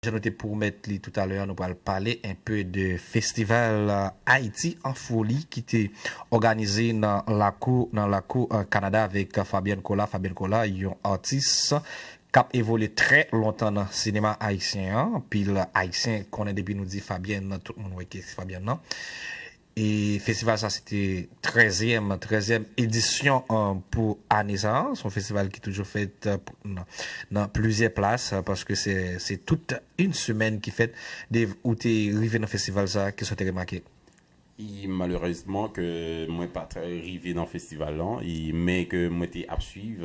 Jan nou te pwomèt li toutalè a, nou pral pale enpe de festival Haïti en folie ki te òganize nan lakou nan lakou Kanada avèk Fabian Cola, Fabien Cola, yon atis k ap evolye trè lontan nan sinema ayisyen an. Anpil ayisyen konnen depi nou di Fabian, tout moun wè ki Fabian nan. E festival sa se te trèzyèm, trèzyèm edisyon pou ane sa. Se yon festival ki toujou fèt nan plizyè plas paske se tout yn semèn ki fèt. Dave, ou te rive nan festival sa, kisa w te remake? E malerezman ke mwen pa t rive nan festival lan e men ke mwen te ap swiv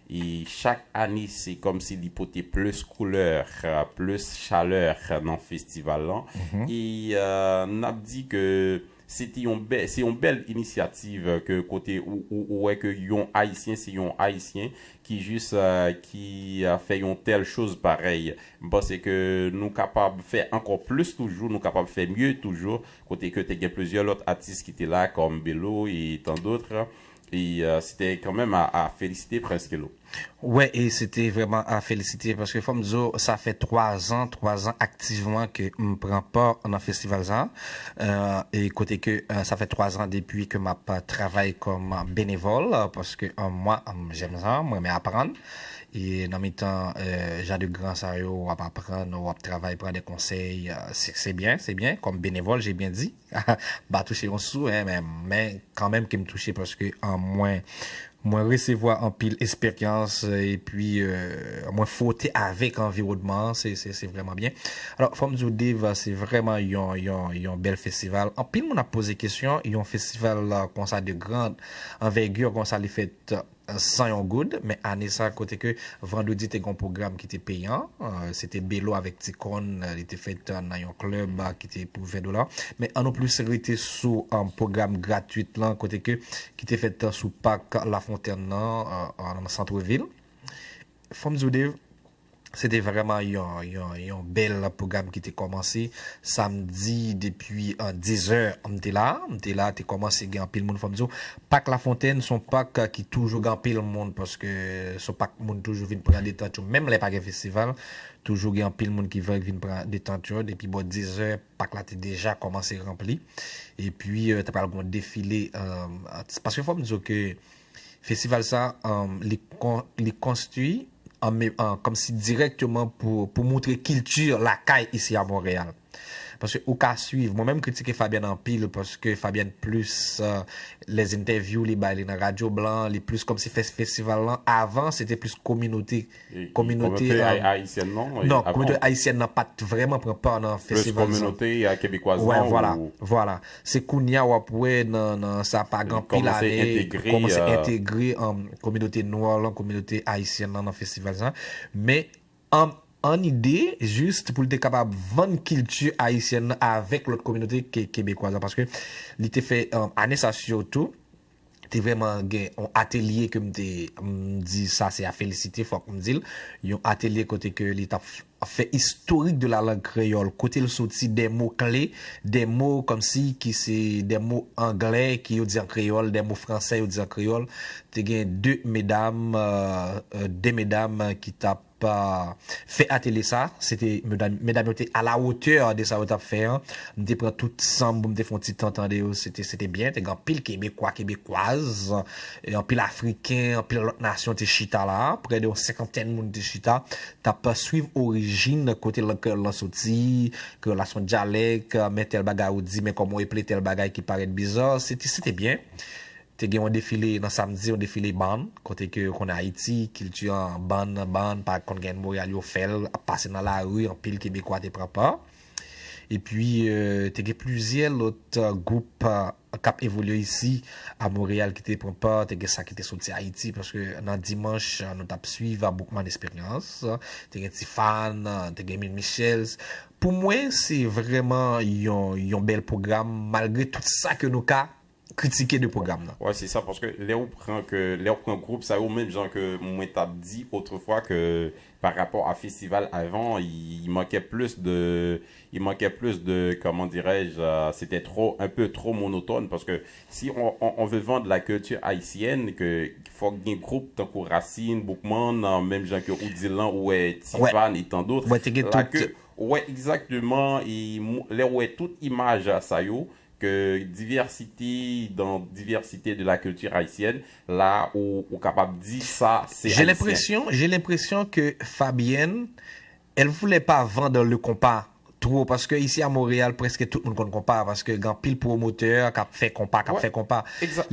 E chak ane se kòmsi li pote plis koulè, plis chalè nan festival lan. E n ap di ke se te yon bèl, se yon bèl inisyativ ke kote ou wè ke yon Ayisyen se yon Ayisyen ki jis ki fè yon tèl choz parèy. M panse ke nou kapab fè ankò plis toujou, nou kapab fè mye toujou kote ke te gen plizyè lòt atis ki te la kòm Belo e tan dotre. E se te kanmenm a a felisite Prince Kelo. Wè e se te vrèman a felisite paske fò m di w sa fè 3 zan, 3 zan aktivman ke m pran pa nan festival sa a. E kote ke sa fè 3 zan depi ke m ap travay kòm benevòl paske mwa jèm jan m renmen aprann. E nan mitan jan de gran sa yo w ap aprann, w ap travay, pran de konsèy, se byen, se byen kòm benevòl je byen di. Mpa touche yon sou hein men kanmenm kem touche paske mwen mwen resevwa anpil esperyans epi mwen fwote avèk anviwònman an se se se vrèman byen alò fòm diw Dave se vrèman yon yon yon bèl festival anpil moun ap poze kesyon yon festival konsa de grand anvègir konsa li fèt san yon goud, men ane sa kote ke Vandredi te gen yon pwogram ki te peyan, se te Belo avèk Tikonn, li te fèt nan yon klèb ki te pou 20 dola, men an nou plis rete sou pwogram gratwit lan kote ke ki te fèt sou pak Lafontèn lan nan santre vil. Fò m di w Dave, Se te vrèman yon bèl pwogram ki te kòmanse samdi depi 10 zè m te la, m te la te kòmanse gen anpil moun fòm di w. Pak Lafontenn son pak ki toujou gen anpil moun paske son pak moun toujou vin pran detant yo menm lè pa gen festival toujou gen anpil moun ki vin pran detant yo depi bò 10 zè pak la te deja kòmanse ranpli epi te pral gon defile paske fòm di w ke Festival sa li konstwi kòmsi dirèkteman pou moutre kilti lakay isi a Monreyal. Paske ou ka swiv, mwen menm m kritike Fabyèn anpil paske Fabyèn plis lè zentèvyou li bay li nan radyo blan, li plis kòmsi fè festival lan avan se te plis kominote Kominote ayisyèn nan pa t vrèman pran pa nan festival sa. Wè vwala, vwala. Se kounye a w ap wè nan sa pa gen anpil ane, kòmanse entegre kominote nwa lan, kominote ayisyèn lan nan festival sa. Men, an ide, jis pou l te kapab vann kilti ayisyèn lan avèk lòt kominote kebekwaz la. Paske li te fè ane sa sitou. te vrèman gen yon atelye ke m te m di sa se a felisite fòk m di l, yon atelye kote ke li t ap fè istorik de la lang kreyòl kote l soti dè mo kle, dè mo kòmsi ki se dè mo angle ki yo di an kreyòl, dè mo franse yo di an kreyòl, te gen de medam, de medam ki t ap. fè atelye sa, se te medam yo te a la wotè de sa yo tap fè an, m te pran tout san m pou m te fè yon ti tan tande yo, se te byen, te gen anpil kebekwa, kebekwaz, anpil afriken, anpil lòt nasyon te chita la, prè de yon senkantèn moun te chita, tap swiv orijin kote lang kreyòl lan soti, kreyòl la se yon dyalèk, men tèl bagay ou di, men kòman ou eple tèl bagay ki parèt bizar, se te byen, Te gen yon defile nan samdi, yon defile bann, kote ke konn Ayiti, kilti an bann nan bann, pa konn gen moral yo fè l, ap pase nan lari, anpil Kebekwa te pran pa. Epi te gen plizyè lòt gwoup k ap evolye isi a Monreyal ki te pran pa, te gen sa ki te soti Ayiti, paske nan dimanch nou t ap suiv Boukman Esperyans, te gen Ti Fàn, te gen Min Michels. Pou mwen se vrèman yon bèl pwogram malgre tout sa ke nou ka kritike de pwogram nan. Wè se sa paske lè ou pran ke lè ou pran gwoup sa yo menm jan ke mwen tap di otrefwa ke pa rapò a festival avan il manquait plus de il manquait plus de comment dirais je c'etait trop un peu trop monotone paske si on on on veut vendre la culture haïtienne ke fòk gen gwoup tankou Racine, Boukman menm jan ke ou dil lan ou wè T-Pain et tant d'autres la ke ou wè exactement et lè ou wè tout imaj sa yo Que diversité dans diversité de la culture haïtienne la ou kapab di sa se J'ai haïtien. l'impression, j'ai l'impression que Fabienne elle voulait pas vendre le konpa twò paske ici à Montréal preske tout moun konn konpa paske gen anpil pwomotè kap fè konpa kap fè konpa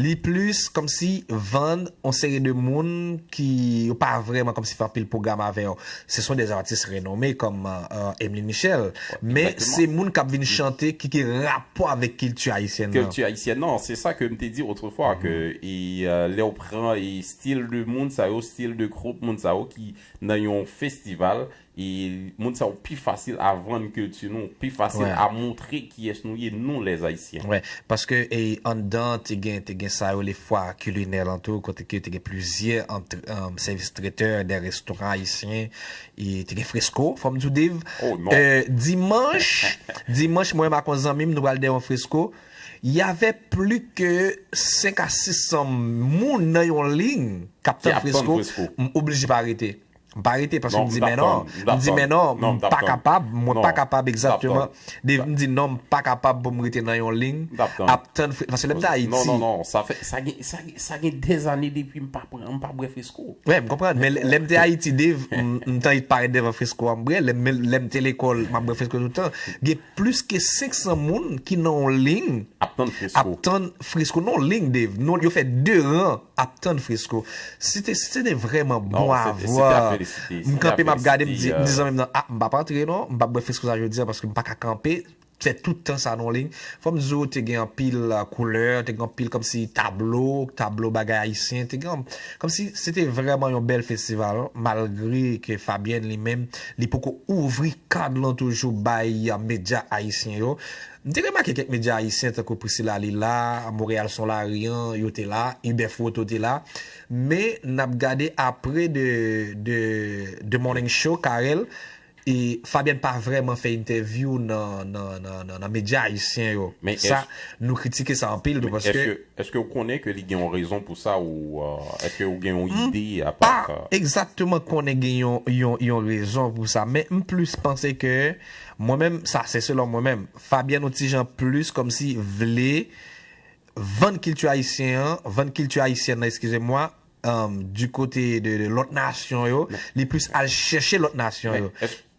li plis kòmsi vann yon seri de moun ki yo pa vrèman kòmsi fè anpil pwogram avè yo. Se son des artistes renommés kòm Emeline Michel, men se moun kap vin chante ki gen rapò avèk kilti ayisyèn nan. Kilti ayisyèn nan, se sa ke m te di otrefwa ke lè w pran stil de moun sa yo, stil de gwoup moun sa yo ki nan yon festival, moun sa yo pi fasil a vann kilti nou, pi fasil a montre kiyès nou ye nou les haïtiens. Wè, paske anndan te gen te gen sa yo le foire culinaire lan tou kote ke te gen plizyè antre sèvis tretè dè restoran ayisyen e te gen fresco fòm di w Dave Oh non! Dimanch dimanch mwen ak yon zanmi m nou pral dè yon fresco y avè pli ke 5 a 600 moun nan yon lign k ap tann fresco m oblije pa rete M pa rete paske m di men non, m di men non, m pa kapab, mwen pa kapab egzatteman, Dave m di non m pa kapab pou m rete nan yon lign ap tann fre, paske lè m te Ayiti. Non, non, non, sa fè, sa gen, sa gen, sa gen dè zane depi m pa pran, m pa bwè fresko. Wi, m konprann, men lè m te Ayiti Dave, m te anvi parèt devan fresko a m bwè, lè m te lekòl m ap bwè fresko tout tan, gen. Plis ke 500 moun ki nan yon ling ap tann fresko. Ap tann fresko. Non ling Dave. Non yo fè 2 ran ap tann fresko. Se te se te vrèman bon a vwa. Se te a felisite. M kanpe m ap gade m di zanmi m nan a m pa p antre non. M pa p bwè fresko sa jodi a paske m pa ka kanpe fè tout tan sa nan ling. Fò m di w te gen anpil koulè, te gen anpil kòmsi tablo, tablo bagay ayisyen. Te gen kòmsi se te vrèman yon bèl festival malgre ke Fabyèn li menm. Li poko ouvri kad lan toujou bay medya ayisyen yo. M te remake kèk medya ayisyen tankou Priscilla li la, Montréal son la rien yo te la, Hubert Froteau te la. Men n ap gade apre de de de morning show Carel e Fabienne pa vrèman fè entèvyou nan nan nan nan medya ayisyen yo. Sa nou kritike sa anpil tou paske. Eske ou konnen ke li gen yon rezon pou sa ou eske ou gen yon ide a pa sa? M pa egzakteman konnen gen yon rezon pou sa men m plis panse ke mwen menm sa se selon mwen menm Fabienne yon ti jan plis kòmsi vle vann kilti ayisyen an vann kilti ayisyèn nan eskize mwa di kote de lòt nasyon yo li plis al chèche lòt nasyon yo.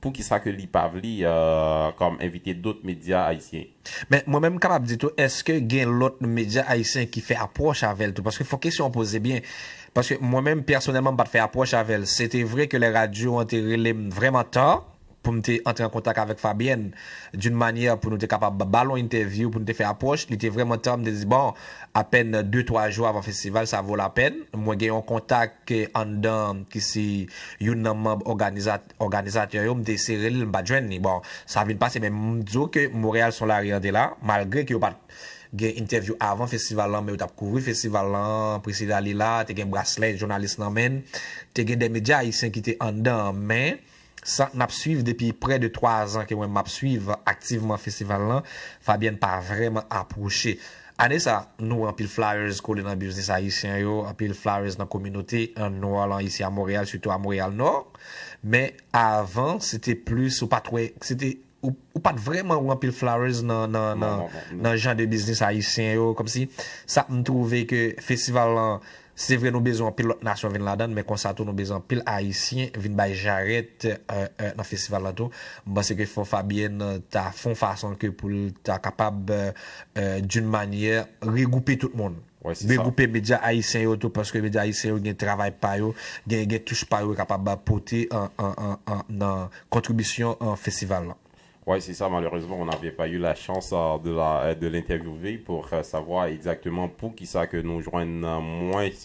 Poukisa ke li pa vle kom envite dot media ayisyen? Men mwen menm m kapab di tou eske gen lot media ayisyen ki fè apwoch avèl tou paske fon kesyon w poze byen paske mwen menm pèsonèlman m pat fè apwoch avèl se te vre ke lè radyo an te rele m vrèman ta pou m te antre an kontak avèk Fabyèn d'une manière pou nou te kapab ba l yon entèvyou pou nou te fè apwoch li te vrèman ta m te di bon apèn de twa jou avan festival sa vo lapèn mwen gen yon kontak anndan ki se youn nan manb òganizatè. Òganizatè yo m te sere l m pat jwenn li bon sa vin pase men m di w ke Montréal son la rien te la malgre ke yo pat gen entèvyou avan festival lan men yo tap kouvri festival lan Priscilla li la te gen braslè jounalis nan men l te gen 2 medya ayisyen ki te anndan an men sa nap swiv depi prè de 3 zan ke mwen map swiv aktivman festival lan Fabienne pa vrèman apwoche ane sa nou wè anpil flyers kole nan biznis ayisyen yo anpil flyers nan kominote an nou an lan isi a Montréal sitou a Montréal Nord. Men avan se te plis ou pat wè, se te ou pat vrèman wè anpil flowers nan jan de biznis ayisyen yo kòmsi sa m twouve ke festival lan se vre nou bezwen anpil lòt nasyon vin ladan men konsa tou nou bezwen anpil ayisyen vin bay jarèt nan festival lan tou. M panse ke fò Fabien ta fon fason ke pou l ta kapab d'une manière regroupe tout moun. Regroupe medya ayisyen yo tou paske medya ayisyen yo gen travay pa yo, gen touch pa yo yo kapab pote nan kontribisyon festival lan. Wi se sa malerezman on n'avait pas eu la chance de l'interviewer pour savoir exactement poukisa ke nou jwenn mwens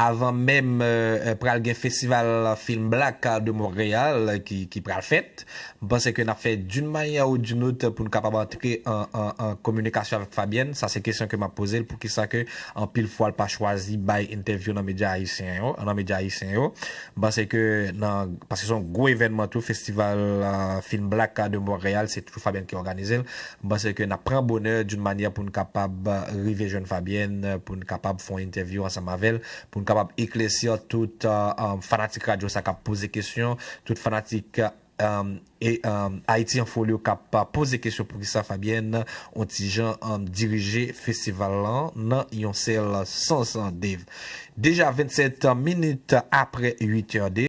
Avan menm pral gen festival film black de Montreal ki pral fèt, m panse ke nap fè d'une manière ou d'une autre pou nou kapab antre an kominikasyon avèk Fabienne, sa se kesyon ke map poze l poukisa ke anpil fwa l pa chwazi bay entèvyou nan medya ayisyen yo, nan medya ayisyen yo. M panse ke nan, paske se yon gwo evènman tou festival film black de Montreal, se toujou Fabienne ki òganize l, M panse ke n ap pran bonè d'une manière pou n kapab rive jwenn Fabienne, pou n kapab fè yon entèvyou ansanm avè l, pou n kapab eklèsir tout fanatik radyo sa k ap poze kesyon, tout fanatik Haïti en folie yo k ap poze kesyon poukisa Fabienne on ti jan dirije festival lan nan yon sèl sans. Dave. Deja 27 minit apre 8 è.